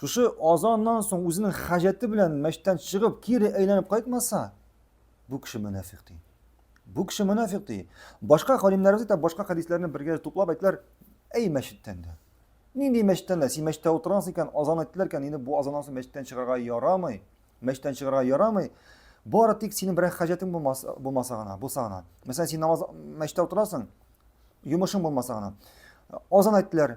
Шушы азаннан соң үзенең хаҗәте белән мәчеттән чыгып, кире әйләнеп кайтмаса, бу кеше мөнәфик ди. Бу кеше мөнәфик ди. Башка галимнәребез дә башка хәдисләрне бергә туплап әйтләр, әй мәчеттән дә. Нинди мәчеттән дә? Син мәчеттә утырасың икән, азан әйттеләр икән, инде бу азаннан соң мәчеттән чыгарга ярамый. Мәчеттән чыгарга ярамый. Бары тик синең берәр хаҗәтең булмаса, булмаса гына, булса гына. Мәсәлән, син намаз мәчеттә утырасың, йомышың булмаса гына. Азан әйттеләр,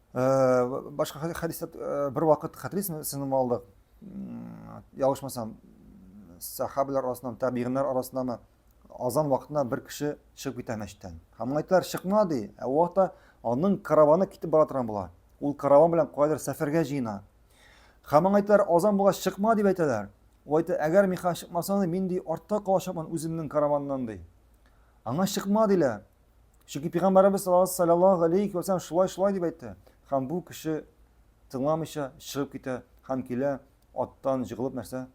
башка хәдистә бер вакыт хәтерисезме сезнең малдык ялгышмасам сахабилар арасыннан табигиннар арасыннанмы азан вакытына бер кеше чыгып китә мәчеттән һәм әйтәләр чыкма ди ә ул вакытта аның караваны китеп бара торган була ул караван белән кайдыр сәфәргә җыена һәм аңа әйтәләр азан булгач чыкма дип әйтәләр ул әйтә әгәр мин хәзер чыкмасам мин ди артта калачакмын үземнең караваннан ди аңа чыкма диләр Чөнки пәйгамбәребез саллаллаһу алейхи ва саллям шулай шулай дип әйтте. Һәм бу кеше тыңламыйча чыгып китә һәм килә аттан җыгылып нәрсә?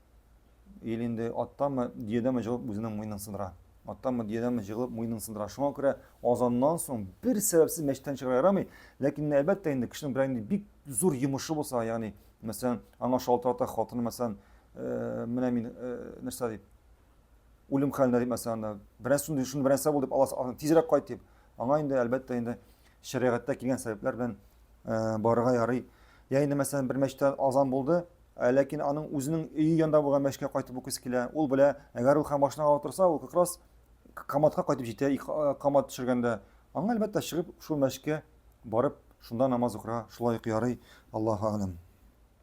Ил инде аттамы, диядәме җыгылып үзенең муенын сындыра. Аттамы, диядәме җыгылып муенын сындыра. Шуңа күрә азаннан соң бер сәбәпсез мәчеттән чыгыра ярамый. Ләкин әлбәттә инде кешенең берәр инде бик зур йомышы булса, ягъни мәсәлән, аңа шалтырата хатыны мәсәлән, э, менә мин э, нәрсә дип үлем хәлендә дип мәсәлән анда бераз шундый шуны бернәрсә булды дип аласы тизрәк кайт дип аңа инде әлбәттә инде шәригатьтә килгән сәбәпләр белән э, барырга ярый я инде мәсәлән бер мәчеттә азан булды ә ләкин аның үзенең өе янында булган мәчеткә кайтып укыйсы килә ул белә әгәр ул һәм машинага утырса ул как раз каматка кайтып җитә э, камат төшергәндә аңа әлбәттә чыгып шул мәчеткә барып шунда намаз укырга шулай ук ярый аллаһу алам